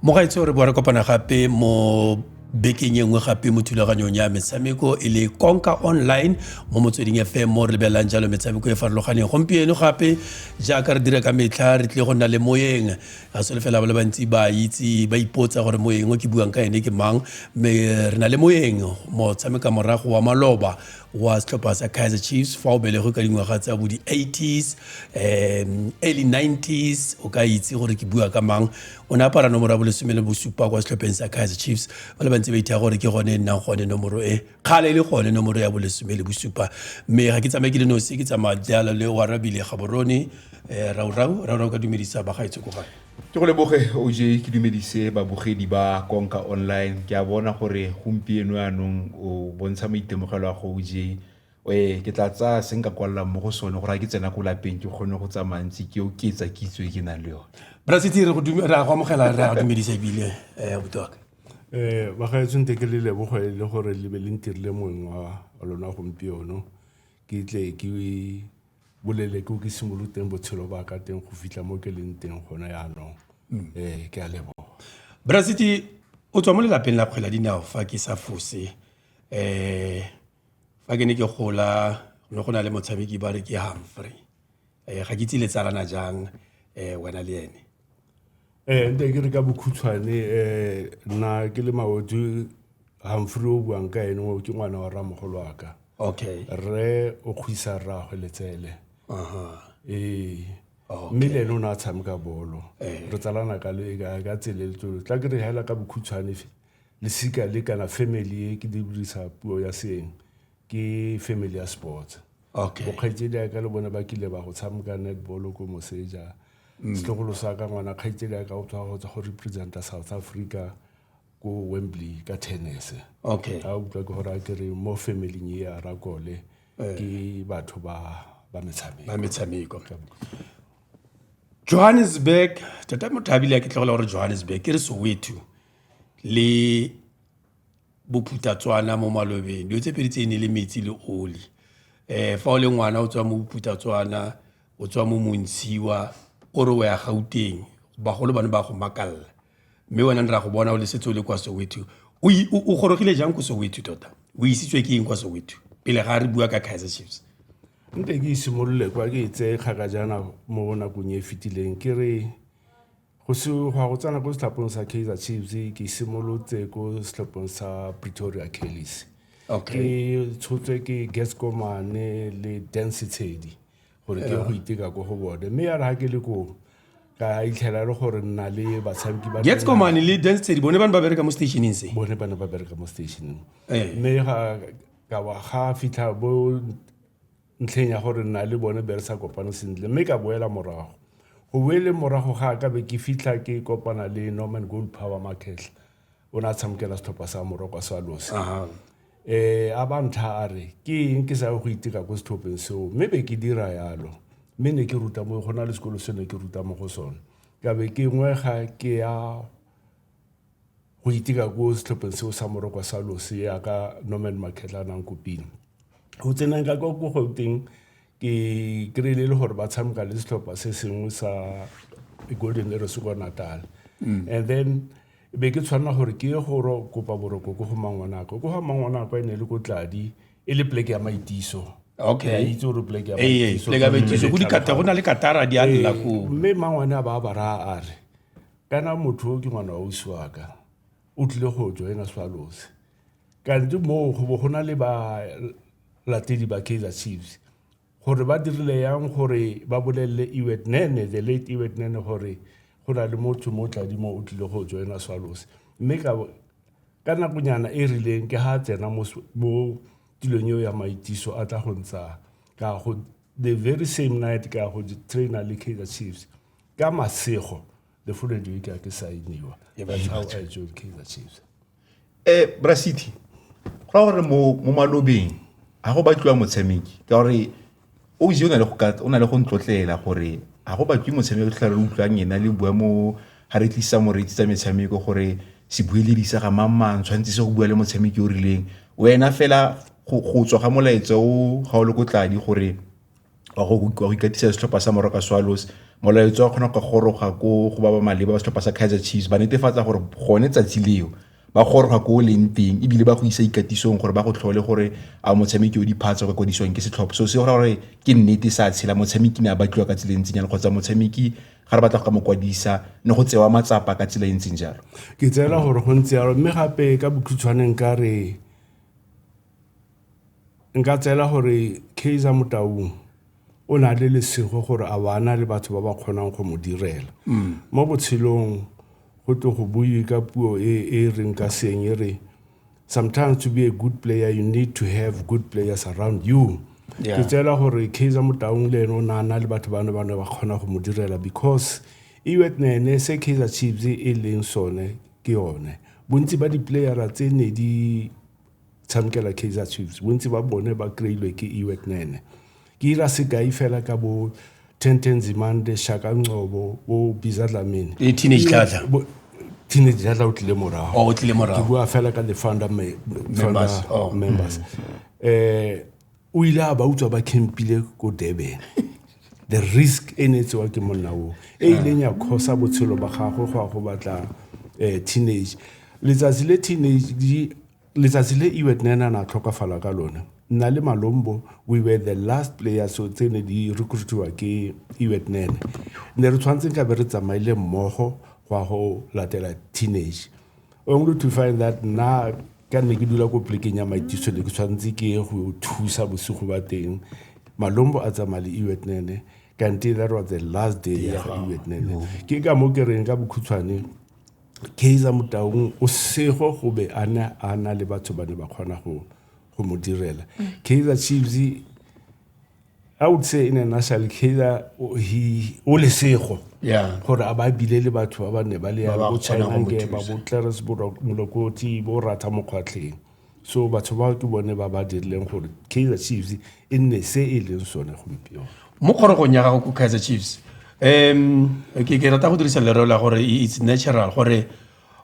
mogaitse gore bore kopana gape mo bekeng e nngwe gape mo thulaganyong ya metshameko e le konka online mo motsweding fm mo re lebelelang jalo metshameko e farologaneng gompieno gape jaaka re dira ka metlha re tlile go nna le moeng a sole fela ba le bantsi ba itse ba ipotsa gore moeng o ke buang ka ene ke mang mme re na le moeng motshameka morago wa maloba wa setlhopha sa kaizer chiefs fa o belegwe ka dingwaga tsa bo di-80s um early 90s o ka itse gore ke bua ka mang o ne apara nomoro ya bolesome le bosupa kwa setlhopheng sa kaizer chiefs ba le bantse ba ithaya gore ke gone e nnang gone nomoro e kgale e le gone nomoro ya bolesome le bosupa mme ga ke tsamaye ke le nosi ke tsamaya jalo le warabile gaborone um eh, raurau raurau ka dumedisa bagaetsho ko gae ke go leboge oj ke dumedise babogedi ba konka online ke a bona gore gompieno yaanong o bontsha maitemogelo a go oj e ke tla tsaya se nka kwalelang mo go sone gore ga ke tsena ko lapeng ke kgone go tsamaya ntse ke oketsa kitso e ke nang le yone brasiti re go amogela re a dumedisa ebile um eh, botaka um eh, bagaetsong te ke le lebogo e le gore le be le ntirile mongwe wa lona gompieno ke tle ke bolele ko ke simolotse teng botshelo ba ka teng go fitlha mo ke leng teng gone yaanong um ke a leboga brasiti o tswa mo lelapeng la kgwela dinao fa ke sa fose um fa ke ne ke gola ne go na le motshameki ba re ke humphrey um ga ke itse le tsalana jang um wena le ene ee nte ke re ka bokhutshwane um nna ke le maoto gamfure o buang ka ene o ke ngwana wa ramogolo wa ka okay rre o kgwisa rraagwe letsele ee mme le ene o ne a tshameka bolo re tsalana ka le ka tsele le tsolo tla ke re hela ka bokhutshwane lesika le kana family e ke dirisa puo ya seeng ke family ya sports okay bokgaitsedi ya ka le bona ba kile ba go tshameka netball ko moseja mm. setlogolo sa ka ngwana kgaitsedi ya ka o tswa go tswa go representa south africa ko wembley ka tennis okay a utlwa ke gore a kere mo family e ya rakole eh. ke batho ba ba metshameko ba metshameko johannesburg tata mothabile a ke tlogela gore johannesburg ke re soweto le bophuthatswana mo malobeng dilo tse pedi tse e ne le metsi le oli um fa o le ngwana o tswa mo bophuthatswana o tswa mo montshiwa o re o ya gauteng bagolo ba ne ba go makalela mme wena ne ra go bona o le setse o le kwa soweto o gorogile jang ko soweto tota o isitswe ke eng kwa soweto pele ga re bua ka kaizer chiefs nte ke simolole kwa ke e tseye kgaka jaana mo nakong e e fetileng ke re Go se go ya go tsena ko setlhaphong sa kaizer chiefs ke simolotse ko setlhaphong sa pretoria kellis ke tshotswe ke gascomane le dance tshedi gore ke go iteka ko go bone mme ya re ga ke le koo ka itlhela e le gore nna le batshameki ba gascomane le dance tshedi bone ba ne ba bereka mo stationeng se bone ba ne ba bereka mo stationeng eh. mme ga ka wa ga fitlha bo ntlheng ya gore nna le bone be re sa kopane sentle mme ka boela morago go boele morago ga ka be ke fitlha ke kopana le norman gold power makgetlha o ne a tshamokela setlhopha sa morokwa sa losi um eh, a ba ntlha a re ke eng ke sa go iteka ko setlhopheng seo mme be ke dira yalo mme ne ke ruta mo go na le sekolo se ne ke ruta mo go sone ka be ke ngwega ke ya go iteka ko setlhopheng seo sa morokwa sa lose yaka norman makgetlha a nang kopile go tsenang ka kwa ko gauteng ke kry-ile e le gore ba tshameka le setlhopha se sengwe sa golden eros kwa natal mm. and then be ke tshwanela gore ke ye go kopa boroko ko go mangwanako ko ga mangwanako e ne le ko tladi e le pleke ya maitiso okay itse gore pleke ya maitiso go na le katara di a lela ko mme mangwane a ba a bara a re kana motho o ke ngwana wa ausi wa ka o tlile go joina swallows kante moo go bo go na le balatedi ba kaizer chiefs gore ba dirile yang gore ba bolelele ewet nene the late ewet nene gore go na le motho mo tladimo o tlile go joina swallows mme ka nakonyana e rileng ke ga a tsena mo tilong eo ya maitiso a tla go ntsha ka go the very same night ka go traina le kaizer chiefs ka masego the full educate a ke sainiwa that's how i joined kaizer chiefs eh bra city go ra gore mo mo malobeng a go batliwa motshameki ka gore o itse o na le go ka o na le go ntlotlela gore a go batlwe motshameki o tlhare utlwang ena le bua mo ga re tlisa moreetsi tsa metshameko gore se bueledi sa ga mang mang tshwanetse se go bua le motshameki o rileng wena fela go tswa ga molaetsa o ga o le ko tladi gore wa go ikatisa setlhopha sa Moroka Swallows molaetso wa kgona go goroga ko go ba ba maleba ba setlhopha sa Kaizer Chiefs ba netefatsa gore gone tsatsi leo ba goroga ko o leng teng ebile ba go isa ikatisong gore ba go tlhole gore a motshameki o diphatsa go kwadisiwang ke setlhopha so se gore ke nnete sa tshela motshameki ne a batliwa ka tsela e ntseng jalo kgotsa motshameki ga re batla go ka mo kwadisa ne go tsewa matsapa ka tsela e ntseng jalo ke tseela gore go ntse jalo mme gape ka bokhutshwaneng ka re Nka tseela gore Kaizer Motaung o na le lesego gore a bana le batho ba ba kgonang go mo direla mm. mo botshelong go tlo go buiwe ka puo e e reng ka seng e re sometimes to be a good player you need to have good players around you ke tseela gore Kaizer Motaung le ene o na na le batho ba ne ba ne ba kgona go mo direla because iwet e nene se Kaizer Chiefs e leng sone ke yone bontsi ba di-playera tse ne di tshamekela kaizer chiefs bontsi ba bone ba kry-ilwe ke iwek nene ke ira sekai fela ka bo tenten zimande shaka ncobo bo biza dlamini le teenage tlatla teenage dlatla o tlile morago oh, o tlile morago ke bua fela ka the founder members oh. members mm. eh o ile a ba utswa ba campile ko durban the risk e ne e tsewa ke monna oo e ileng ya kgosa botshelo ba gagwe go ya go batla um teenage letsatsi le teenage letsatsi le iwet ne na na tlhokafala ka lone nna le malombo we were the last players so tse ne di recruitiwa ke iwet nene ne re tshwanetseng ka be re tsamaile mmogo go ya go latela teenage Ongwe to find that na ka nne ke dula ko plekeng ya maitiso ne ke tshwanetse ke ye go thusa bosigo ba teng malombo a tsamaya le iwetnene kante that was the last day ya ga iwetnene ke ka mo ke reng ka bokhutshwane kaiser motaung o sego go be a ne a na le batho ba ne ba kgona go mo direla mm. kaiser chiefs I would say in a nutshell, Kayla, he o lesego. Yeah. Gore a ba bile le batho ba ba ne ba le ya bo Chinange, ba bo Clarence Molokoti, bo Ratha Mokgwatlheng. So batho ba ke bone ba ba dirileng gore Kaizer Chiefs e nne se e leng sone gompieno. Mo kgorogong ya gago ko Kaizer Chiefs, um ke ke rata go dirisa lereo la gore it's natural gore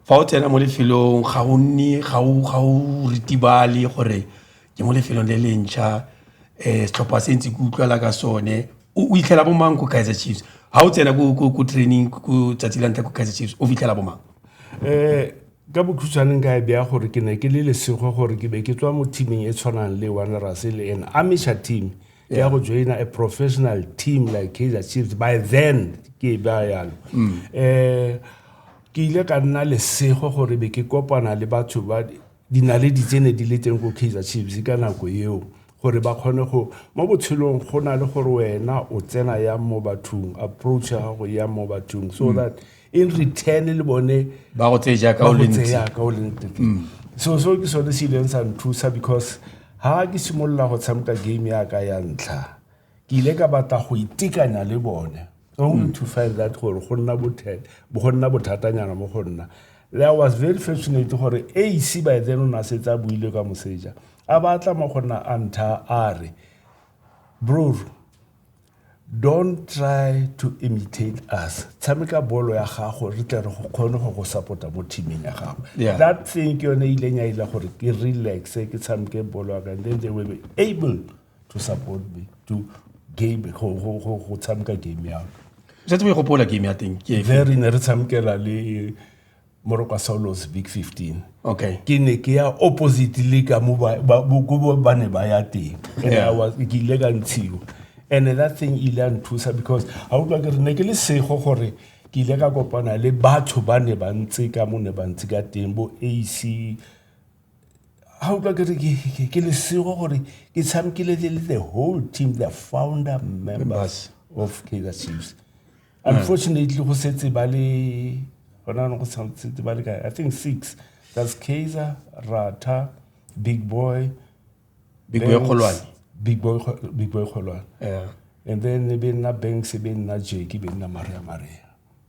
fa o tsena mo lefelong ga o nne ga o ga o ritibale gore ke mo lefelong le le ntšha um setlhopha se ntse ke utlwala ka sone o fitlhela bo mang ko kaizer chiefs ga o tsena ko training ko tsatsi la ntlha ko kaizer chiefs o fitlhela bo mang um ka bokhutshwaneng ka e beya gore ke ne ke le lesego gore ke be ke tswa mo teameng e tshwanang le wanderers e le an amisha team ke ya go joina a professional team like kaizer chiefs by then ke e beya yalo um mm. eh, Ke ile ka nna lesego gore be ke kopana le batho ba dinaledi tse ne di le teng ko Kaizer Chiefs ka nako eo gore ba kgone go mo botshelong go na le gore wena o tsena yang mo bathong approach ya gago yang mo bathong so mm. that in return le bone ba go tseya ka o leng mm. so so ke sone se ileng sa nthusa because ha ke simolola go tshameka game ya ka ya ntlha ke ile ka batla go itekanya le bone only to find that gore go nna go nna bothatanyana mo go nna le i was very fortunate gore ac by then o ne a setse a buile ka moseja a batla mo go nna a ntha a re bror don't try to imitate us tshameka bolo ya gago re tle re go kgone go go support-a mo teaming ya gago that thing ke yone e ileng ya ile gore ke relaxe ke tshameke bolo ya ka then they will be able to support me to game go tshameka game ya setse o e gopola game ya teng ke there ne re tshamekela le moroko wa saulos big 15 okay ke ne ke ya opposite le ka mo ba ne ba ya teng ke ile ka ntshiwa and that thing ile a nthusa because ga o tlwa ke re ne ke le sego gore ke ile ka kopana le batho ba ne ba ntse ka mo ne ba ntse ka teng bo ac ga utlwa ke re ke lesego gore ke tshamekile le le the whole team the founder members of kaizer chiefs unfortunately go setse ba le gona no go setse ba le kae i think six that's kaizer rata big boy big boy kgolwane big boy big boy kgolwane yeah and then be nna banks be nna jeki be nna maria maria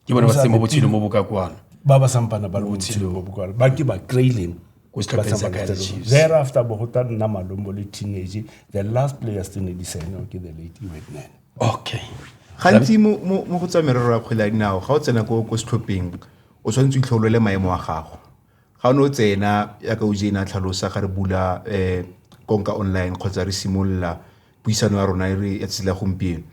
ke bona ba se mo botshelo mo boka kwana ba ba sampana ba le botshelo mo boka ba ke ba kraileng thereafter bogota nna malombo le teenage the last players tse ne di saeneo ke the late iwetnene okay gantsi mo go tsa merero ya kgwele ya dinao ga o tsena ko setlhopheng o tshwanetse o itlholole maemo a gago ga no tsena ya ka ojena tlhalosa ga re bula eh konka online kgotsa re simolola puisano ya rona e re ya tsela gompieno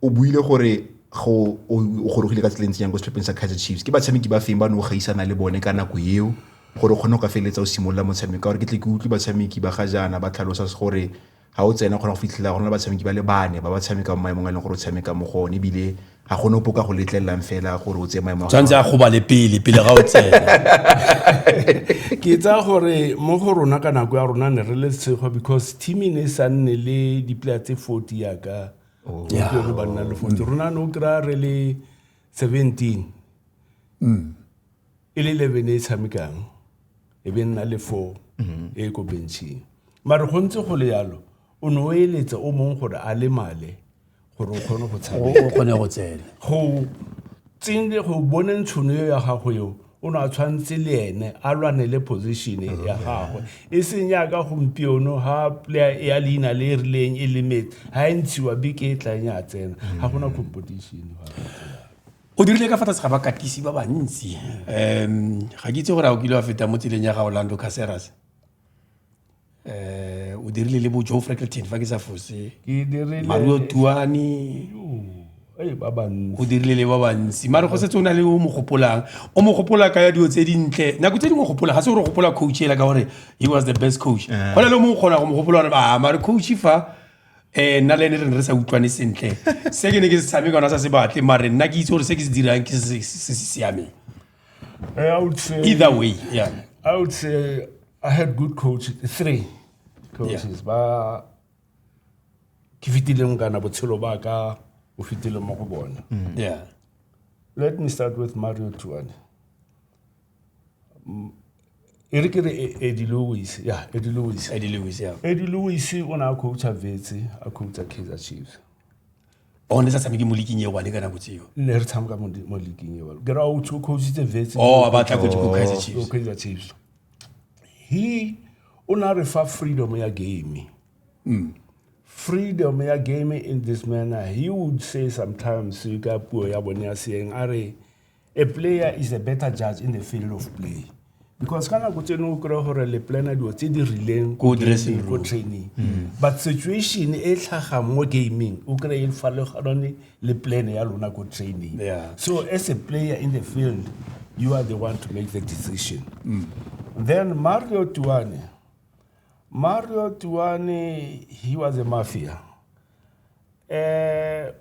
o buile gore go o gorogile ka tseleng tsenyang ko setlhopheng sa Kaizer Chiefs ke batshameki ba feng ba ne o gaisana le bone ka nako eo gore o kgone go ka feleletsa o simolola motshameko gore ke tle ke utlwe batshameki ba ga jaana ba tlhalosa gore Ga o tsena o kgona go fitlhela go na le batshameki ba le bane ba ba tshamekang maemong a e leng gore o tshameka mo go one ebile ga gone opo ka go letlelelang fela gore o tseye maemo tshwanetse a gobale pele pele ga o tsena ke tsaya gore mo go rona ka nako ya rona ne re le tshego because team e ne e sa nne le dipila tse forty yaka oh. re banna le forty rona ne o kry-a re le seventeen mm. e le eleven e e tshamekang e be nna le four mhm. e e ko benching mare go ntse go le yalo o ne o eletsa o mongwe gore a le male gore o kgone go tshameka o kgone go tsena go tsene go bone ntshono eo ya gago eo o ne a tshwanetse le ene a lwane le position ya mhm. gagwe e seng yaka gompieno ga player ya leina le e rileng e lemetse ga e ntshiwa beke e tlang ya tsena ga gona mhm. competition o dirile ka fa tlase ga bakatisi ba bantsi um ga ke itse gore a o kile wa feta mo tseleng ya ga orlando caseras um o dirile le bo joe freckleton fa ke sa fose mario tuane o dirile le ba bantsi mare go setse o na le o mo gopolang o mo gopola ka ya dilo tse dintle nako tse dingwe gopola ga se gore gopola coach ela ka gore he was the best coach eh. go na le o mongwe kgona go mo gopola gore a ah, mare coach fa Eh nna le ene re ne re sa utlwane sentle se ke ne ke se tshameka ona sa se batle mare nna ke itse gore se ke se dirang ke se se siameng eh, I would say either way yeah I would say I had good coaches three coaches yeah. ba ke fitileng kana botshelo ba ka o fitileng mo go bona mm. yeah let me start with Mario Tuane Mm, e re ke re E- Eddie Lewis ya Eddie Lewis Eddie Lewis ya Eddie Lewis o ne a coacha Vetse a coacha Kaizer Chiefs o ne sa tshameke mo liking e one ka nako tseo ne re tshameka mo di- mo leaking eo ke ra o tsho coachitse Vetse o a batla coach ko Kaizer o Chiefs Kaizer Chiefs he o ne a re fa freedom ya game freedom ya game in this manner he would say sometimes ka puo ya bone ya seeng a re a player is a better judge in the field of play because ka nako tseno o kry gore le plana dilo tse di rileng ko training mm. but situation e tlhaga mo gaming o kry e farologanone le plan ya lona ko training so as a player in the field you are the one to make the decision mm. then mario tuane mario tuane he was a mafia uh,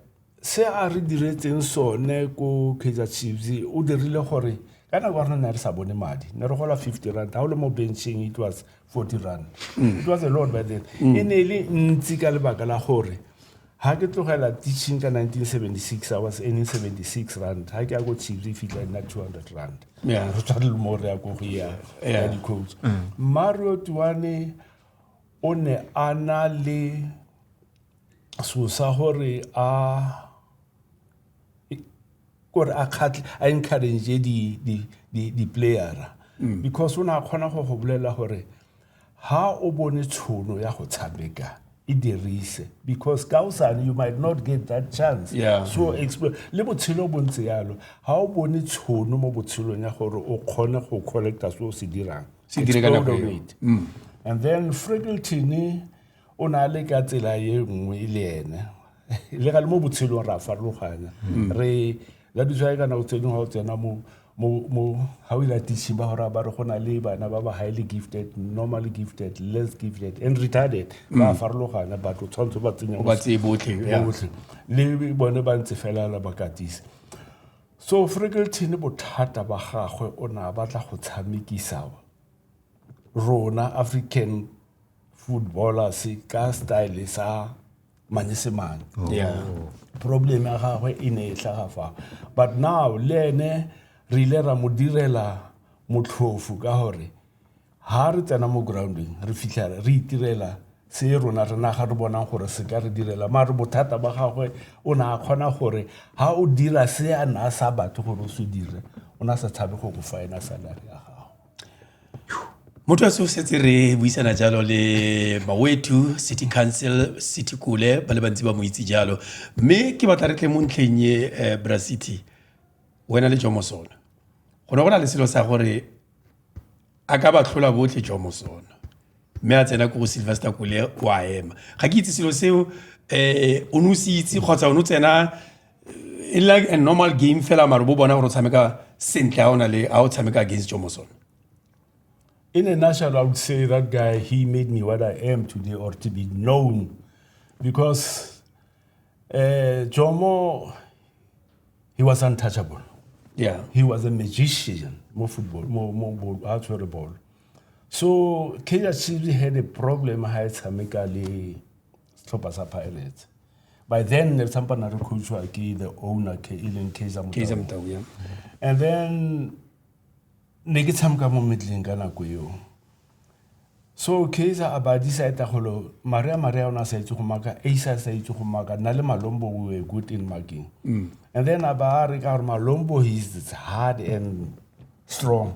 Se a re diretseng sone ko Kaizer Chiefs o dirile gore ka nako re ne re sa bone madi ne re gola 50 rand ga o le mo bencheng it was 40 rand it was a lot by then mm. e ne e le ntsi ka lebaka la gore ha ke tlogela teaching ka 1976 i was earning 76 rand ha ke ya ko chiefs e fitlha nna 200 rand re tshwane le mo re ya ko go ya ya dicoach mm. mario tuane o ne a na le sosa gore a kore a khatle a encourage di di di di playera mm. because o ne a khona go go bolela gore ha o bone tshono ya go tshameka e dirise because ka osane you might not get that chance yeah. so explore le botshelo bo ntse yalo ha o bone tshono mo botshelong ya gore o kgone go collecta se o se dirang se dire ka nako mm. and then friggleton o ne a le ka tsela e nngwe e le ene le ga le mo botshelong re a farologana mm. re la bitsa ka nako tse dingwe ga o tsena mo mo ga o ilatise ba gore ba re go na le bana ba ba highly gifted normal gifted less gifted and retarded ba mm. farologana batho tshwanetse ba tsenyebotlhe botlhe le bone ba ntse fela la ba katise so frekelton bothata ba gagwe o ne a batla go tshamekisa rona african footballers ka style sa manyesemane yeah problem ya gagwe e ne e tlhaga fa but now le ene re ile ra mo direla motlhofu ka gore ha re tsena mo grounding re fitlha re itirela se rona re naga re bonang gore se ka re direla mare bothata ba gagwe o ne a kgona gore ha o dira se a na sa batho gore o se dire o na sa tshabe go go faena salary ya gago Motho a setse re buisana jalo le Mawethu City Council City Kule ba le bantsi ba mo itse jalo mme ke batla re tle mo ntlheng e eh, Bra City wena le Jomosona go ne go na le selo sa gore a ka ba tlhola botlhe Jomosona mme a tsena ko go sylvester kole o a ema ga ke itse selo seo um o ne o se itse kgotsa o ne o tsena e like a normal game fela maro bo bona gore o tshameka sentle ga o na le ga o tshameka against jomoson in a nutshell i would say that guy he made me what i am today or to be known because uh, jomo he was untouchable yeah he was a magician mo football mo mo ball a tshwere ball so kaizer chiefs had a problem ha e tshameka le setlhopha sa pirates by then ne re tsampa na re coachwa ke the owner ke e leng kaizer motau and then ne ke tshameka mo medleng ka nako eo so kaizer a ba decide golo mare a mare a ona sa itse go maka a isa sa itse go maka na le malombo we were good in marking mm. and then a ba re ka gore malombo he is hard and strong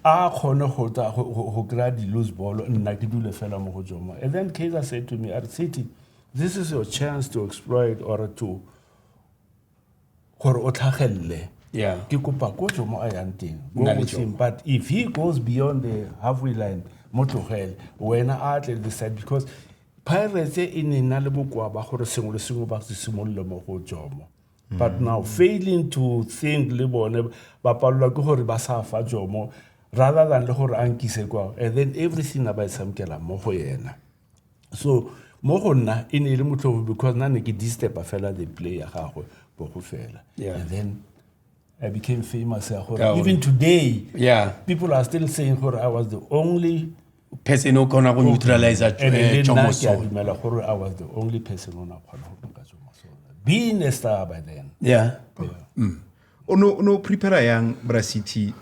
a kgone go tla go kry-a di-lose ball nna ke dule fela mo go jomo and then kaiser said to me arcity this is your chance to exploit or to gore o tlhagelele yeah. ke kopa ko jomo a yang teng him but if he goes beyond the halfway line mo tlogele wena a tle the side because pirates e ne na le bokoa ba gore sengwe le sengwe ba se simolole mo go jomo but mm. now failing to think le bone ba palelwa ke gore ba sa fa jomo rather than le gore a nkise kwao and then everything a ba e tshamkela mo go ena so mo go nna e ne e le motlhogo because nna ne ke distepa fela the play ya gagwe bo go fela and then I became famous. Even today, yeah. people are still saying I was the only person o kgona go neutralize chomoso dumela gore i was the only person o na kgona go baka chomoso being a star by then yeah mm. o no o no prepare yang bra city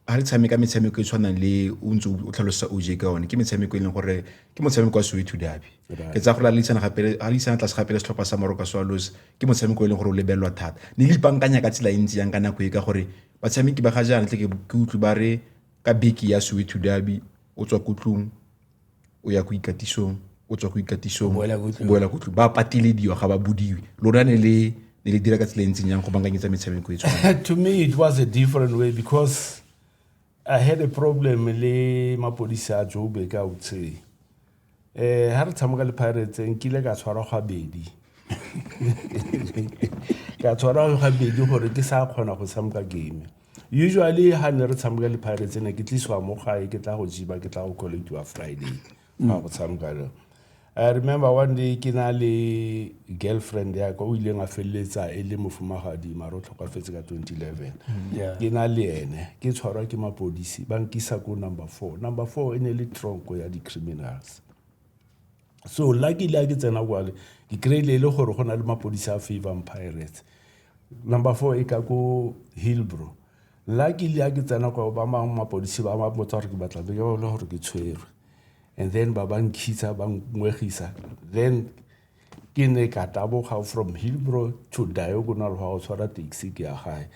ha re tshameka metshameko e tshwanang le o ntse o tlhalosa o je ka one ke metshameko e leng gore ke motshameko wa soweto dabi ke tsaya gore a leisana gape a leisana tlase gape le setlhopha sa maroka swallows ke motshameko e leng gore o lebelelwa thata ne le ipankanya ka tsela e ntsi yang ka nako e ka gore batshameki ba ga jaana tle ke utlwe ba re Ka beke ya Soweto Derby o tswa ko tlung o ya ko ikatisong o tswa ko ikatisong o boela ko tlung ba patelediwa ga ba bodiwe lona ne le ne le dira ka tsela e ntseng yang go bankanyetsa metshameko e tshwana to me it was a different way because i had a problem le mapodisa a joburg i would say um ga re tshameka le pirates nkile ka tshwarwa gabedi ka tshwarwa gabedi gore ke sa kgona go tshameka game usually ga ne re tshameka le pirates ne ke tlisiwa mo gae ke tla go jiba ke tla go collectiwa friday ga go tshameka le i remember one day ke na le girlfriend ya ka o ileng a feleletsa e le mofumagadi mare o tlhokafetse ka 2011 mm-hmm. ke na le ene ke tshwarwa ke mapodisi ba nkisa ko number four number four e ne le tronko ya di-criminals so luckily a ke tsena kwale ke kry-ile e le gore go na le mapodisi a favang pirates number four e ka ko hillbro luckily a ke tsena kwa ba mangwe mapodisi ba ba botsa gore ke batla beke ba bole gore ke tshwerwe and then ba ba nkgisa ba ngwegisa then ke ne ka taboga from hillbro to diagonal go ya go tshwara taxi ke ya gae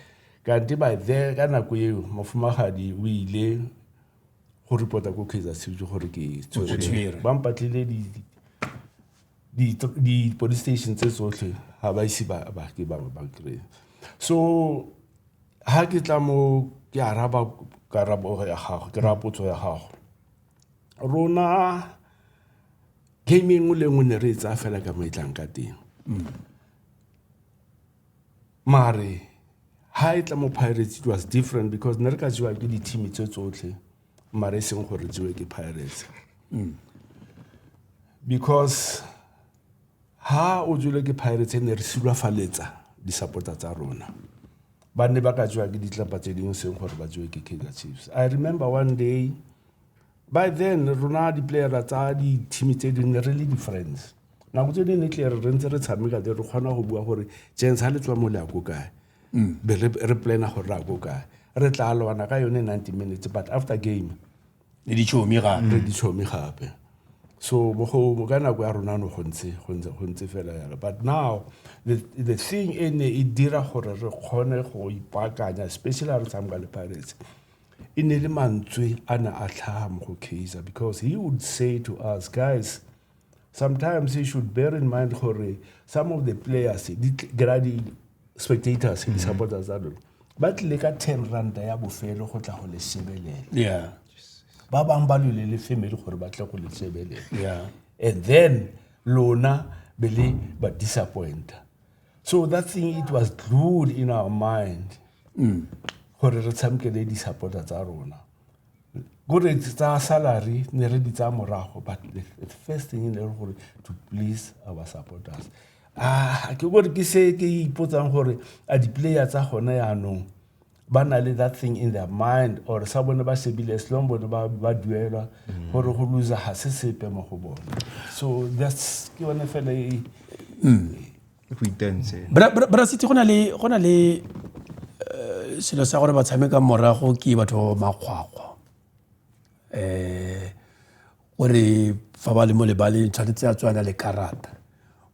kante by there ka nako eo mofumagadi o ile go reporta ko kaizer city gore ke tshwere ba mpatlile di-police station tse tsotlhe ga ba ise bake bangwe ba kry so ga ke tla mo ke araba karabo ya gago ke rapotso ya gago rona game e nngwe le nngwe ne re e tsaya fela ka mo e tlang ka teng mare ha e tla mo pirates it was different because ne re ka jewa ke di-team tse tsotlhe mare e seng gore jewe ke pirates because ha o jele ke pirates e ne re silwafaletsa di-supporter tsa rona ba ne ba ka jewa ke ditlapa tse dingwe seng gore ba jewe ke kaizer chiefs i remember one day by then rona di-playera tsa di-team tse dingwe re le di-friends nako tse dingwe tle re ntse re tshameka te re kgona go bua gore jens ga le tswa mo le ako kae mm. be re plana gore re ako kae re tla lwana ka yone ninety minutes but after game le ditšhomi gape re ditšhomi gape so bogomo ka nako ya rona no go ntse go ntse go ntse fela yalo but now the, the thing e ne e dira gore re kgone go ipaakanya especially re tshameka le pirates e ne le mantswe a ne a tlhaga mo go kaiser because he would say to us guys sometimes you should bear in mind gore some of the players di kry di-spectators mm. di-supporters tsa lone ba tlile ka ten ranta ya bofelo go tla go le sebelela ba bangwe ba lole le family gore ba tle go le sebelela and then lona be le ba disappointa so that thing it was glued in our mind mm. gore re tshamkele di-supporter tsa rona gore tsa salary ne re di tsaya morago but the first thing e ne re gore to please our supporters ah ke gore ke se ke ipotsang gore a di-player tsa gone yaanong ba na le that thing in their mind or sa bone ba shebile as long bone ba ba duelwa mm. gore go lose ga se sepe mo go bone so that's ke yone fela e mm. go itense bra sitse go na le go na le eh, selo sa gore ba tshameka morago ke batho makgwakgwa um eh, o re fa ba le mo lebaleng tshwanetse a tswana le karata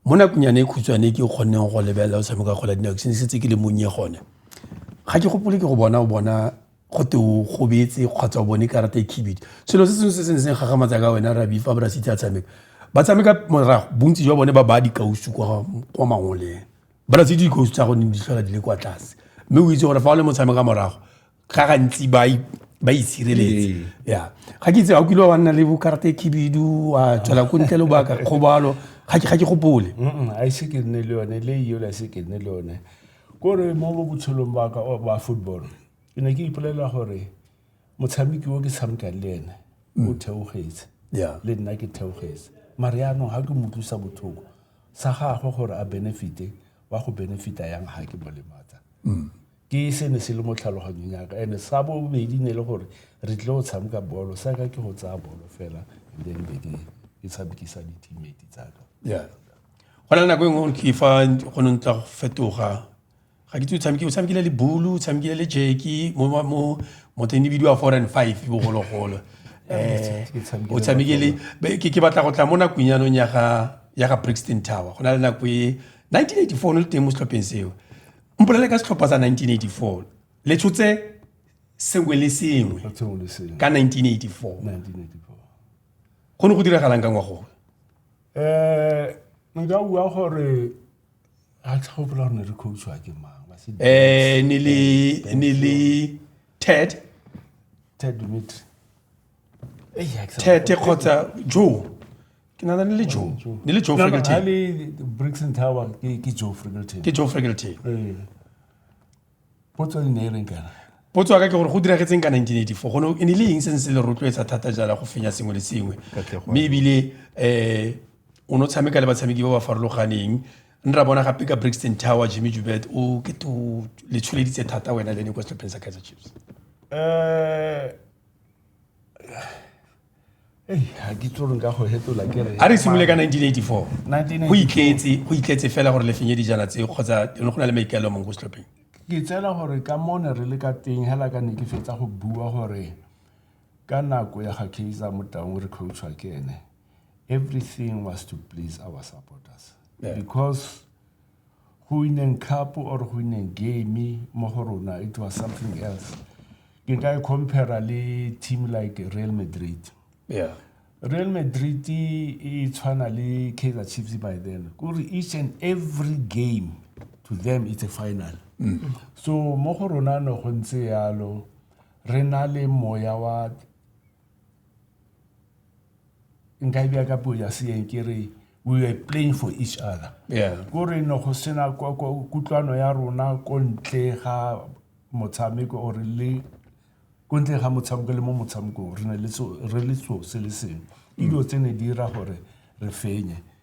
mo nakonyane e khutshwane ke kgonneng go lebelela o tshameka kgwele ya dinao ke sene setse ke le monnye gone ga ke gopole ke go bona o bona go te o gobetse kgotsa o bone karata e khibidi selo se sengwe se se ne seng gagamatsa ka wena rabi fa borasitse a tshameka ba tshameka morago bontsi jwa bone ba ba dikausu kwa mangoleng borasitse dikausu tsa gone di tlhola di le kwa tlase mme o itse gore fa o le motshameka morago ga gantsi ba ba itshireletse ee. ya ga ke itse ga o kile wa nna le bokarate khibidu wa tswela ko ntle lobaka kgobalo ga ke gopole a ise ke nne le yone le eo la se ke nne le yone kore mo mo botshelong ba ka ba football ke ne ke ipolela gore motshameki o ke tshamekang le ene mm. o theogetse le nna ke theogetse mare yaanong ga ke mo tlosa botlhoko sa gagwe gore a benefite wa go benefita yang ga ke mo lematsa mm. Ke se ne se le mo tlhaloganyong yaka and sa bobedi ne le gore re tlile go tshameka bolo sa ka ke go tsaya bolo fela and then be ke ke tshamekisa di-teammate tsaka yeah go na le nako e nngwe ke fa go ne ntla go fetoga ga ke tse o tshamekile o tshamekile le bulu o tshamekile le jeki mo mo motho ne bidiwa four and five bogologolo um o tshamekile ke batla go tla mo nakong yanong ya ga ya ga brixton tower go na le nako e 1984 o ne le teng mo setlhopheng seo mpolele ka setlhopha sa 1984 le tshotse sengwe le sengwe ka 1984 go ne go diragalang ka ngwago um nka bua gore ga tlhogopola gore ne re coachwa ke mang um ne le ted ted dimitri tete kgotsa jo ke nana le joe ne le joe fregelton ke joe fregelton ke joe fregelton ee. potso ne e reng kana potso ya ka ke gore go diragetseng ka 1984 gone e ne le eng se ne se le rotloetsa thata jala go fenya sengwe le sengwe mme ebile um o ne o tshameka le batshameki ba ba farologaneng ne ra bona gape ka brixton tower jimmy jubert o ke to le tsholeditse thata wena le ne kwa setlhopheng sa kaizer chiefs um a re simole ka 1984 go itletse go itletse fela gore lefenye dijana tseo kgotsa go na le maikaelo mongwe go setlhopheng ke tsela gore ka mo ne re le ka teng hela ka ne ke fetsa go bua gore ka nako ya ga kaizer motaung re coachwa ke ene everything was to please our supporters yeah. because go wineng cup or go wineng game mo go rona it was something else ke ka e compara le team like real madrid yeah. real madrid e tshwana le kaizer chiefs by then kore each and every game to them it's a final mm. so mo go rona no go ntse yalo re na le moya wa nka e bja ka puo ya seeng ke re we were playing for each other yeah ko re no go sena kwa- kwa- kutlwano ya rona ko ntle ga motshameko or le ko ntle ga motshameko le mo motshamekong re ne le so- re le so se le sengwe ke dilo tse ne di dira gore re fenye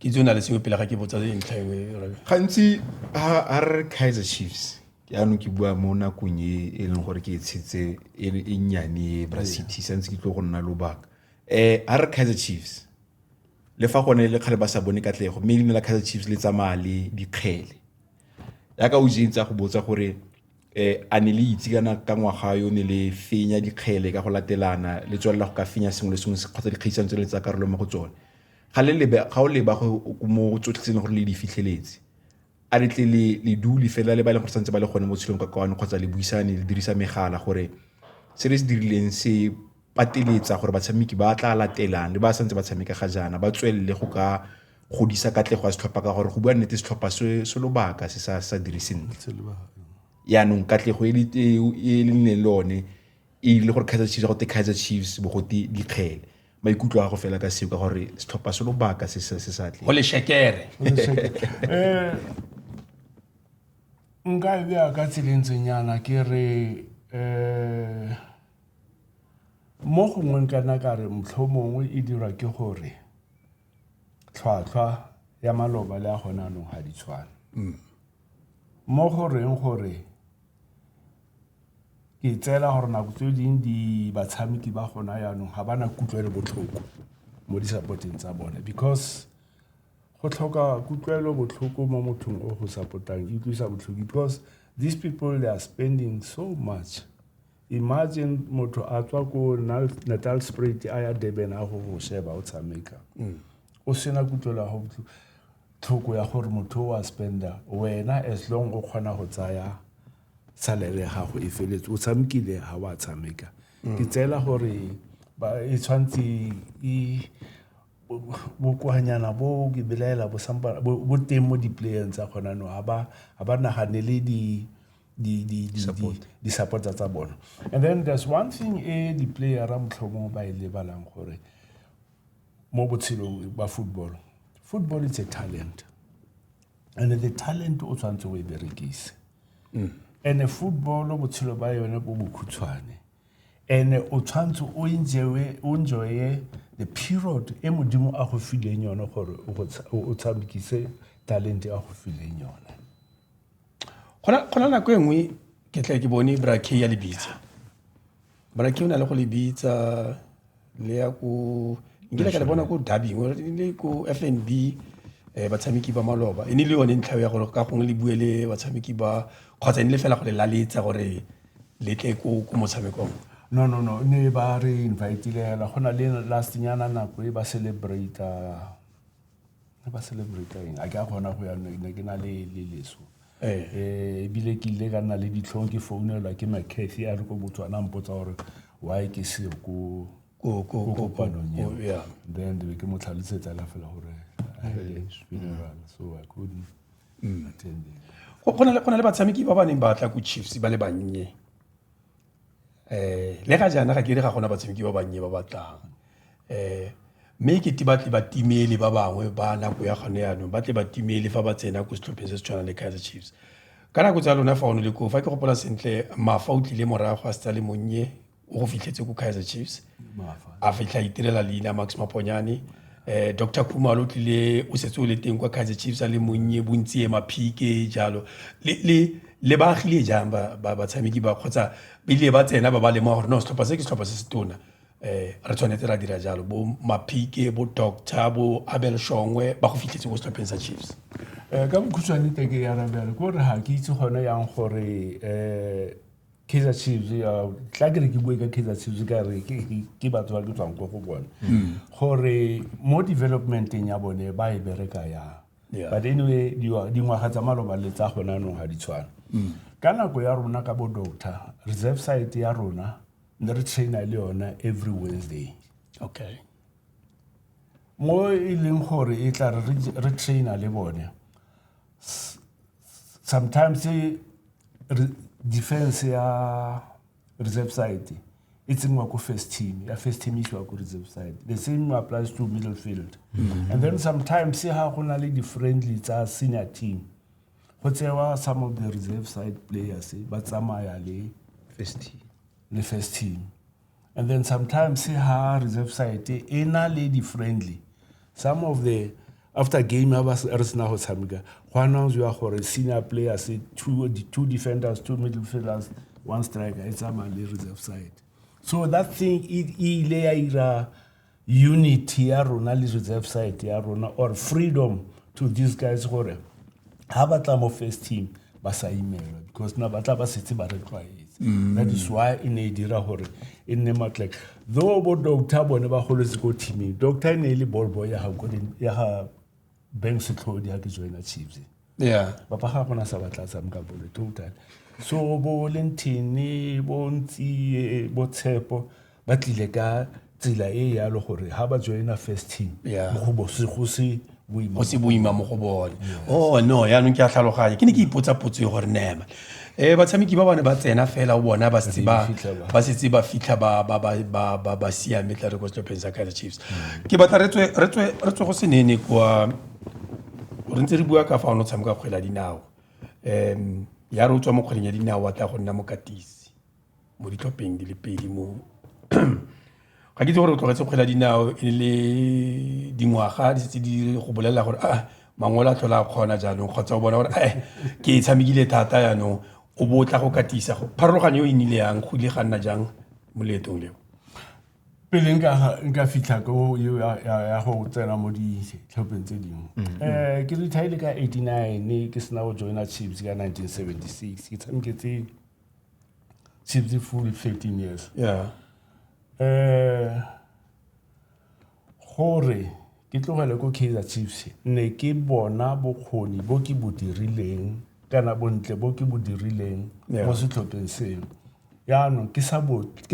ke tse o na le sengwe pele ga ke botsa ntlha engwe gantsi a re kaizer chiefs yaanong ke bua mo nakong e e leng gore ke e tshetse e, e nnyane e bra city santse ke tlo go nna lobaka um a re kaizer chiefs le fa gone le kgale ba sa bone katlego mme leina la kaizer chiefs le tsamaya le dikgele yaka o jentse a go botsa gore um a ne le itse kana ka ngwaga yo ne le fenya dikgele ka go latelana le tswelela go ka fenya sengwe le sengwe kgotsa dikgaisano tse le tsa karolo mo go tsone Ga le lebe, ga o leba go mo tsotlhe tse e leng gore le di fitlheletse, a le tle le le dule fela le ba e leng gore santse ba le gone mo tshelong ka kwano kgotsa le buisane le dirisa megala gore se re se dirileng se pateletsa gore batshameki ba tla latelang le ba santse ba tshameka ga jaana ba tswelele go ka godisa katlego ya setlhopha ka gore go bua nnete setlhopha se se lobaka se sa sa dire sentle yaanong katlego e le nne le one e ile gore Kaizer Chiefs go te Kaizer Chiefs bogote dikgele maikutlo a go fela ka seo ka gore setlhopha se lobaka se se sa tle go leshekere eh, nka e bea ka tselentsenyana ke re um mo gongwe nkana ka re motlho mongwe e dirwa ke gore tlhwatlhwa ya maloba le a gone anong ga di tshwane mm. mo goreng gore Ke tseela gore nako tse dingwe di batshameki ba gona yaanong ga ba na kutlwelo botlhoko mo di-support-eng tsa bone because go tlhoka kutlwelo botlhoko mo mothong o go support-ang e utlwisa botlhoko because these people they are spending so much. Imagine motho a tswa ko Natal Spruit a ya Durban a go go sheba o tshameka o sena kutlwelo ya go tlhoko ya gore motho o a spender wena as long o kgona go tsaya salary ya gago e feletse o tshamekile ga wa tshameka ke tseela gore e tshwanetse e bokoanyana bo ke belaela bo teng mo di-playeng tsa kgona no ga ba naganele di-supporta tsa bona and then there's one thing e di-playera motlhomong ba e lebalang gore mo botshelong ba football football it's a talent and the talent o tshwanetse o e berekise mm. and football botshelo ba yone bo bokhutshwane and o tshwanetse o enjoye o enjoye the period e modimo a go fileng yone gore o tshamekise talent a go fileng yone gona nako e nngwe ke tla ke bone bra k ya lebitsa Bana ke na le go le bitsa le ya ko nkile ka le bona ko dubbing or le ko f and b um batshameki ba maloba e ne le yone ntlha ya gore ka gongwe le bue le batshameki ba kgotsa e ne le fela go le laletsa gore le tle ko ko motshamekong no no no ne ba re invitile hela go na le last nyana nako e ba celebrate re ba celebrate eng a ke a kgona go ya ne ke na le le leso Eh. eh ebile ke ile ka nna le ditlhong ke founelwa ke macathy a re ko botswana mpotsa gore why ke seo ko Ko- ko- ko ko- kopanong ko- eo. yeah. then be ke mo tlhalosetsa ka fela gore I had a funeral, so I couldn't attend it. go go na le- go na le batshameki ba ba neng ba tla ko chiefs ba le bannye um le ga jaana ga ke re ga gona batshameki ba bannye ba batlang um mme ke te batle batimeli ba bangwe ba nako ya gone yaanong ba tle batimeli fa ba tsena ko setlhopheng se se tshwanang le kaizer chiefs ka nako tsa lona fa o ne le koo fa ke gopola sentle mafa o tlile morago a se tsa le monnye o go fitlhetse ko kaizer chiefs a fitlha itirela leina max maponyane um eh, dr khumalo o tlile o setse o le teng kwa kaizer chiefs a le monnye bontsi e maphike jalo le ba agile jang batshameki ba kgotsa bile ba tsena ba ba lema gore no setlhopha se ke setlhopha se se tona um re tshwanetse ra dira jalo bo maphike bo doctor bo abel shongwe ba go fitlhetse ko setlhopheng sa chiefs um ka bokhutshwane teke ya rabjalo ke gore ga ke itse gone yang gore um Kaizer Chiefs tla ke re ke bue ka Kaizer Chiefs ka re ke batho ba ke tswang ko go bone mm. gore mo developmenteng ya bone ba e bereka yang but anyway dingwaga tsa maloba le tsa gona anong ga di tshwana mm. ka nako ya rona ka bo doctor reserve site ya rona ne re traina le yona every wednesday okay mo e leng gore e tla re traina le bone S- s- sometimes eh, re- defense ya reserve side e tsenngwa ko first team ya first team e isiwa ko reserve side the same applies to middle field and then sometimes ha go na le di-friendly tsa senior team go tsewa some of the reserve side players eh, ba tsamaya le le first team And then sometimes ha reserve side e na le di-friendly some of the after game a re sena go tshameka go announcewa gore senior players two, two defenders two middle fielders one striker e tsamaya le reserve side so that thing e ile ya ira unit ya rona le reserve side ya rona or freedom to these guys gore ha ba tla mo first team ba sa imelwa because na ba tla ba setse ba re tlwaetse mm. that is why e ne e dira gore e nne matlek though bo doctor bone ba goletse ko teaming doctor e ne e le ball boy ya ga bank setlhodi ha ke joina chiefs yeah papa ga gona sa batla tsam ka bolo total so bo lentini bo ntsi bo tshepo ba tlile ka tsela e yalo gore ha ba joina first team mo go bo se go se go se boima mo go bone o oh, no yaanong ke a tlhaloganya ke ne ke ipotsa potso e gore nema Eh batshameki ba bane ba tsena fela o bona ba setse ba ba setse ba fitlha ba ba ba ba ba ba siame tla re go stopeng sa Kaizer Chiefs. Ke batla re tswe re tswe re tswe go senene kwa re ntse re bua ka fa o no tshameka kgwele ya dinao. Em ya re o tswa mo kgweleng ya dinao wa tla go nna mokatisi. mo ditlhopheng di le pedi mo ga ke itse gore o tlogetse kgwele ya dinao e le dingwaga di setse di go bolelela gore a ah, mangwele a tlhola a kgona jaanong kgotsa o bona gore e ke e tshamekile thata jaanong o bo tla go katisa go pharologanyo e nnile yang go ile ga nna jang mo leetong leo pele nka fitlha ko ya go tsena mo ditlhopheng tse dingwe um ke retire ka eighty nine ke sena go joina chips ka nineteen seventy six ke tshameketse since the full 13 years yeah eh gore ke tlogele ko kaizer chiefs ne ke bona bokgoni bo ke bo dirileng kana bontle bo ke bo dirileng mo setlhopheng seno yaanong ke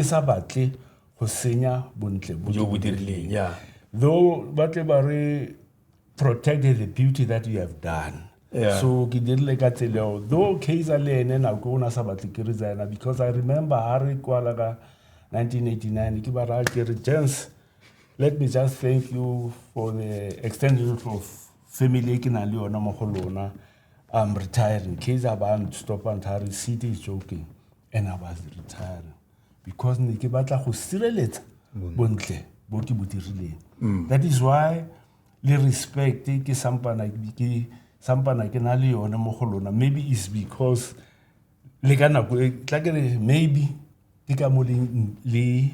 sa batle go senya bontle bo ke bo dirileng though ba tle ba re protect the beauty that you have done yeah. so ke dirile ka tseleo though kaiser le ene nako o ne a sa batle ke re tsena because i remember ha re kwala ka 1989 ke ba raya ke re jens let me just thank you for the extension of family e ke nang le yona mo go lona i'm retiring kaiser ba stop and re city is joking and i was retiring because ne ke batla go sireletsa bontle bo ke bo dirileng mm. that is why le respect ke sampana ke sampana ke na le yone mo go lona maybe is because le ka nako e tla ke re maybe ke ka mo le le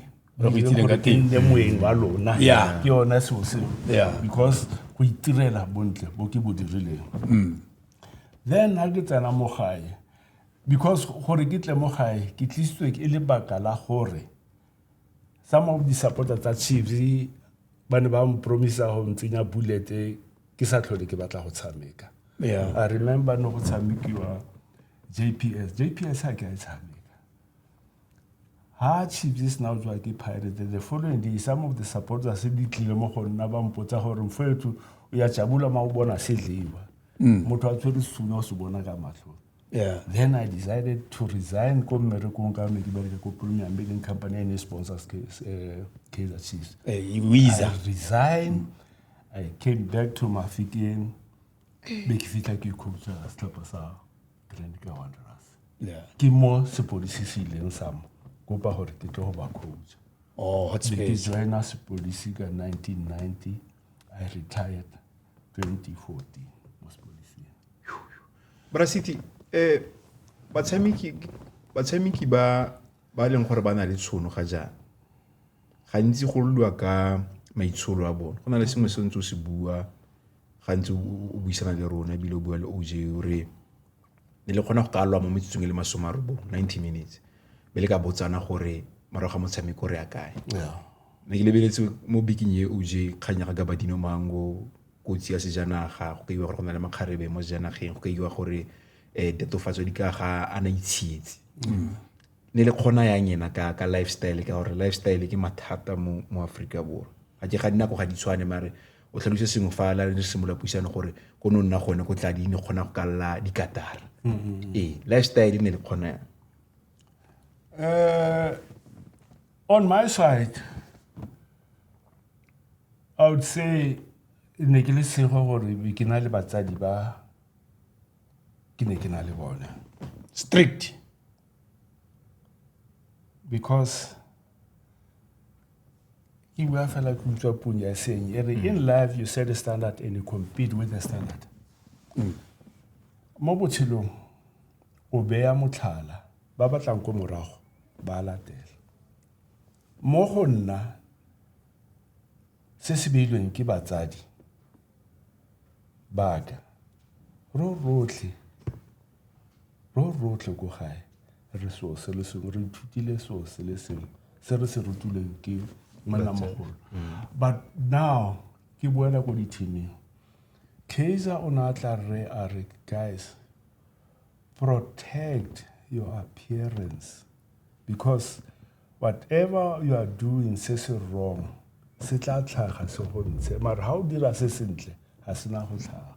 moeng wa lona ke yona seo seo because go itirela bontle bo ke bo dirileng mm. then ha ke tsena mo gae Because gore ke tle mo gae ke tlisitswe ke le baka la gore some of the supporter tsa Chiefs ba ne ba mpromisa go ntsenya bullet ke sa tlhole ke batla go tshameka. Yeah. I remember no go tshamekiwa JPS. JPS ha ke a e tshameka. ha chiefs e sena tswa ke pirate the following day some of the supporters se di tlile mo go nna ba mpotsa gore mfoetso o ya jabula ma o bona se jewa mm. motho a tshwere suna o se bona ka matlho Yeah, then I decided to resign ko mmerekong ka ne ke bereke ko premium e leng company e ne e sponsors eh, kaizer chiefs eh, e i resign i came back to mafikeng be ke fitlha ke ikhopotsa setlhopha sa grand ka wanderers ke mo sepodisi se ileng sa mo kopa gore ke tlo go ba coach oh, ke joina sepodisi ka 1990 I retired 2014 mo sepolising. Brasiti, eh batshameki batshameki ba ba leng gore ba na le tshono ga jaana gantsi go lwa ka maitsholo a bone go na le sengwe se ntse o se bua gantsi o buisana le rona ebile o bua le oj o re ne le kgona go ka lwa mo metsotsong e le masome a robong ninety minutes be le ka botsana gore morago ga motshameko re ya kae ne ke lebeletse mo biking e o je kgang ya ga gabadino mango kotsi ya sejanaga go kaiwa gore go na le makgarebe mo sejanageng go kaiwa gore um eh, tatofatso di ka ga a na itshietse mm. ne le kgona yang ena ka ka lifestyle ka gore lifestyle ke mathata mo mo Africa Borwa ga ke ga dinako ga di tshwane mare o tlhalose sengwe fa la re simolola puisano gore ko no nna gone go tla di ne kgona go kalla dikatara mm-hmm. ee lifestyle e ne le kgona yang uh, on my side i would say ne ke le sego gore ke na le batsadi ba ke ne ke na le bone strict because ke bua fela ke utlwa pong ya seng e re mm. in life you set a standard and you compete with the standard mm. mo botshelong o beya motlhala ba batlang ko morago ba latela mo go nna se se beilweng ke batsadi baka ro rotlhe Ro rotlhe ko gae re seo se le sengwe re ithutile seo se le sengwe se re se rutilweng ke monnamogolo but now ke boela ko dithimeng Kaiser o ne a tla re a re guys protect your appearance because whatever you are doing se se wrong se tla tlhaga se go ntshe mara ga o dira se sentle ga sena go tlhaga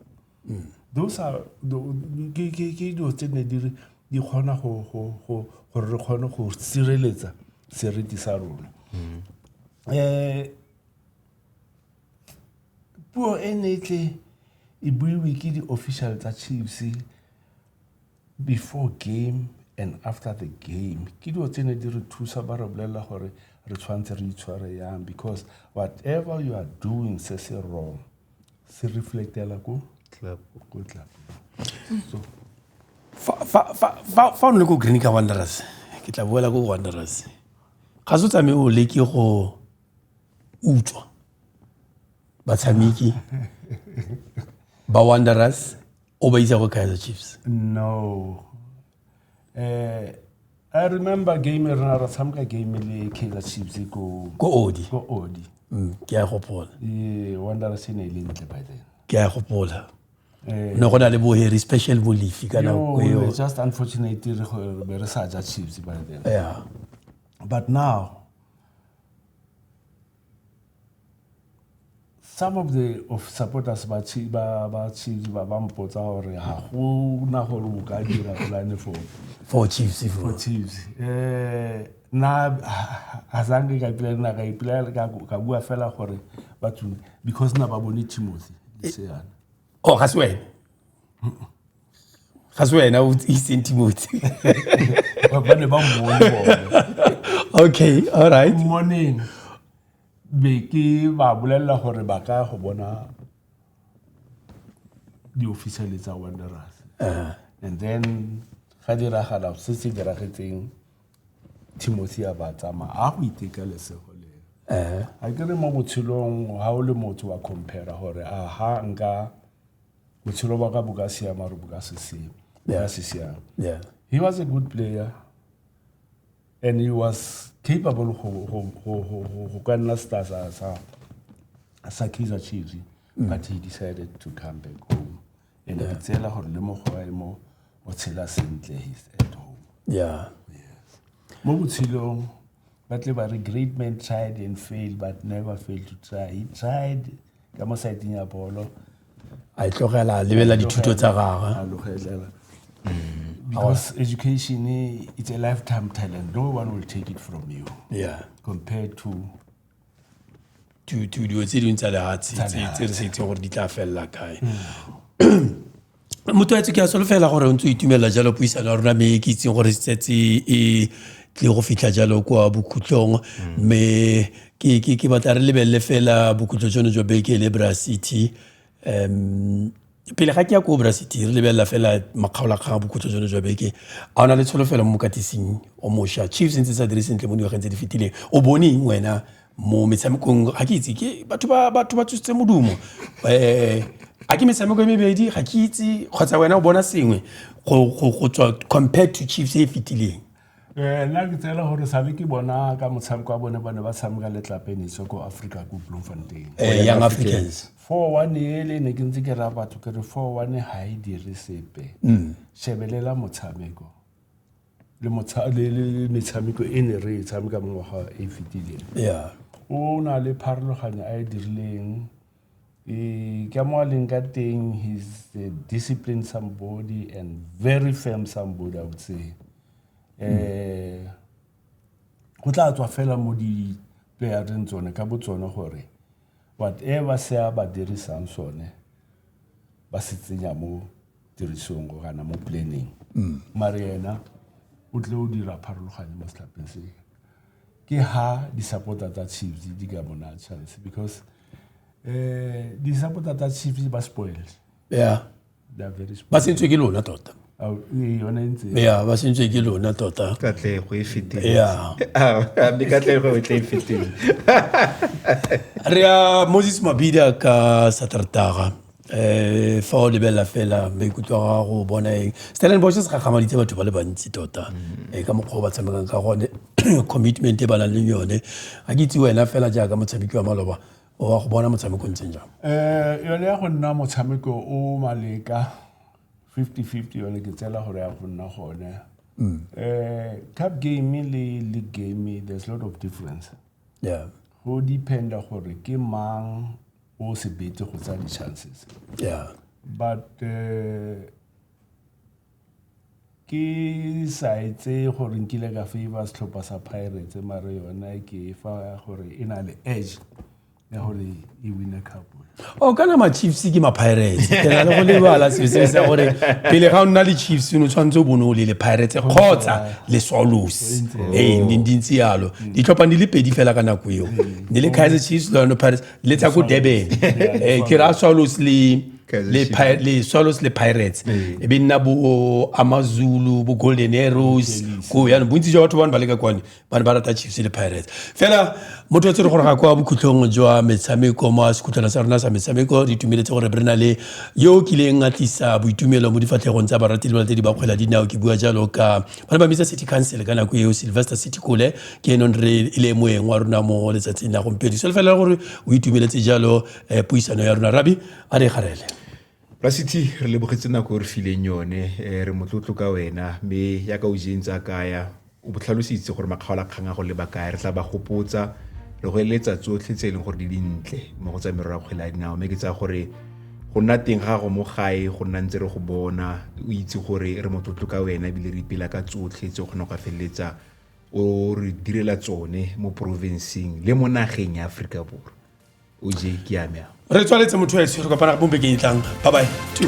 those are ke dilo tse ne di di kgona go gore re kgone go sireletsa seriti sa rona um puo e ne e tle e buiwe ke di-official tsa chiefs before game and after the game ke dilo tse ne di re thusa ba re bolelela gore re tshwanetse re itshware yang because whatever you are doing se se wrong se reflectela ko ko club so fa o ne ko green ka wanderers ke tla boela ko wanderers ga se o tsamaye o leke go utswa batshameki ba wanderers o ba isa go kaizer chiefs no eh i remember game e rena ra tshameka game le kaizer chiefs e ko ko odi ko odi mm, ke a e gopola e wanderers e ne e le ntle by then ke a e gopola eh, ne go na le boheri special bolifi ka nako yo, eo just unfortunate re go- re be re sa ja chiefs by then yeah but now Some of the of supporters ba tshi ba ba tshi ba ba mpotsa gore ha go na gore o ka dira plan for for chiefs for chiefs eh na ha zange ka plan na ka ipela ka ka bua fela gore batho because na ba bone Timothy le seana oh ga se wena ga se wena o itseng timothy ba ne ba mmone okay all right morning be ke ba bolelela gore ba ka go bona di-officiale tsa wanderers uh-huh. and then ga diragala se se diragetseng Timothy a ba tsamaya a go iteka lesego le eh. a ke re mo botshelong ga o le motho wa compare gore a ha nka botshelo ba ka bo ka siama gore bo ka se siame yeah. se siame yeah. he was a good player and he was capable go ka nna star sa sa kaizer chiefs mm. but he decided to come back home and ke tseela gore le mogwae mo o tshela sentle he's at home yeah mo botshelong ba tle ba re great man tried and failed but never failed to try he tried ka mo saeteng ya bolo a e tlogela a lebelela dithuto tsa gagwe a logelela mm. because education it's a lifetime talent no one will take it from you yeah compared to to to dilo tse dingwe tsa lehatshe tse re sa itseng gore di tla felela kae motho a tse ke a solofela gore o ntse o itumelela jalo puisano ya rona mme ke itseng gore setse e tle go fitlha jalo kwa bokhutlong mme ke batla re lebelele fela bokhutlo jono jwa beke le bra city um pele ga ke ya ko obracity re lebelela fela makgaolakgang a bokhutso jone jwa beke a o na le tsholofelo mo mokatising o mošwa chiefs ntse sa dire sentle mo dingwageng tse di fetileng o bone eng wena mo metshamekong ga ke itse ke batho ba batho ba tsositse modumo um a ke metshameko e mebedi ga ke itse kgotsa wena o bona sengwe go tswa compared to chiefs e e fetileng Eh, nna ke tsela gore sabe ke bona ka motshameko wa bone ba ne ba tshameka le tlapenetso ko africa ko bloemfontein eh, young africans four one ele ne ke ntse ke raya batho ke re four one ga e dire sepe mm. shebelela motshameko le metshameko e ne re e tshameka mo ngwaga e fetileng o na le pharologano a e dirileng Eh, ka mo a leng ka teng he's a disciplined somebody and very firm somebody i would say eh go tla tswa fela mo di playereng tsone ka bo tsone gore whatever se a ba dirisang sone ba se tsenya mo tirisong go kana mo planning mm. mare ena o tle o dira pharologane mo setlhapeng se ke ha di-supporter tsa chiefs di ka bona chance because eh di-supporter tsa chiefs ba spoiled yeah ba sentswe ke lona tota ya ba sentse ke lona tota katlego e fetile katlego e tle e fetile re ya moses mabida ka satertaga um fa o lebelela fela maikutlo a gago bona eng stellenbosch se gagamaditse batho ba le bantsi tota mm. eh, ka mokgwa o ba tshamekang ka gone commitment e ba nang le yone ga ke itse wena fela jaaka motshameki wa maloba o wa go bona motshameko o ntseng jang um yone ya go nna motshameko o maleka 50-50 yone ke tsela gore ya go nna gone um cup game le league game there's lot of difference yeah go dependa gore ke mang o se bete go tsaya di-chances yeah. but uh, ke sa etse gore nkile ka favor setlhopha sa pirates mare yona ke fa gore e na le edge ya gore e wine cup o oh, kana ma-chiefs ke ma-pirates ke na le go lebala sese sa gore pele ga o nna le chiefs o ne tshwanetse o bone o le le pirates kgotsa le swallows ee di ntse yalo ditlhophang di le pedi fela ka nako eo di le kaiser chiefs le yone pirates le tsa ko durban eh, ke ra swallows le le, pi le swallows le pirates ee. e be nna bo amazulu bo golden arrows ko yanong bontsi jwa batho bane ba leka kwane bane ba rata chiefs le pirates fela motho tse re gore ga kwa bokhutlhong jwa metshameko mo sekhutlhwana sa rona sa metshameko re itumeletse gore re na le yo o kileng a tlisa boitumelo mo difatlhegong tsa barateli ba tse di ba kgwela dinao ke bua jalo ka ba ne ba bitsa city council ka nako eo sylvester city cole ke enong re e le moeng wa rona mo letsatsing la gompieno so lefelela gore o itumeletse jalo um puisano ya rona rabi a re garele rasiti re lebogetse nako e re fileng yone um re motlotlo ka wena mme yaka o jeng tsa kaya o botlhalositse gore makgaola kgang a go leba kaya re tla ba gopotsa re go eletsa tsotlhe tse e leng gore di dintle mo go tsa merero ya kgwele ya dinao mme ke tsaya gore go nna teng ga gago mo gae go nna ntse re go bona o itse gore re motlotlo ka wena ebile re ipela ka tsotlhe tse o kgona go ka feleletsa o re direla tsone mo porofenseng le mo nageng ya aforika borwa o je ke yame a re tswaletse motho ese re kopana mo bekeng e tlang bye bye Two.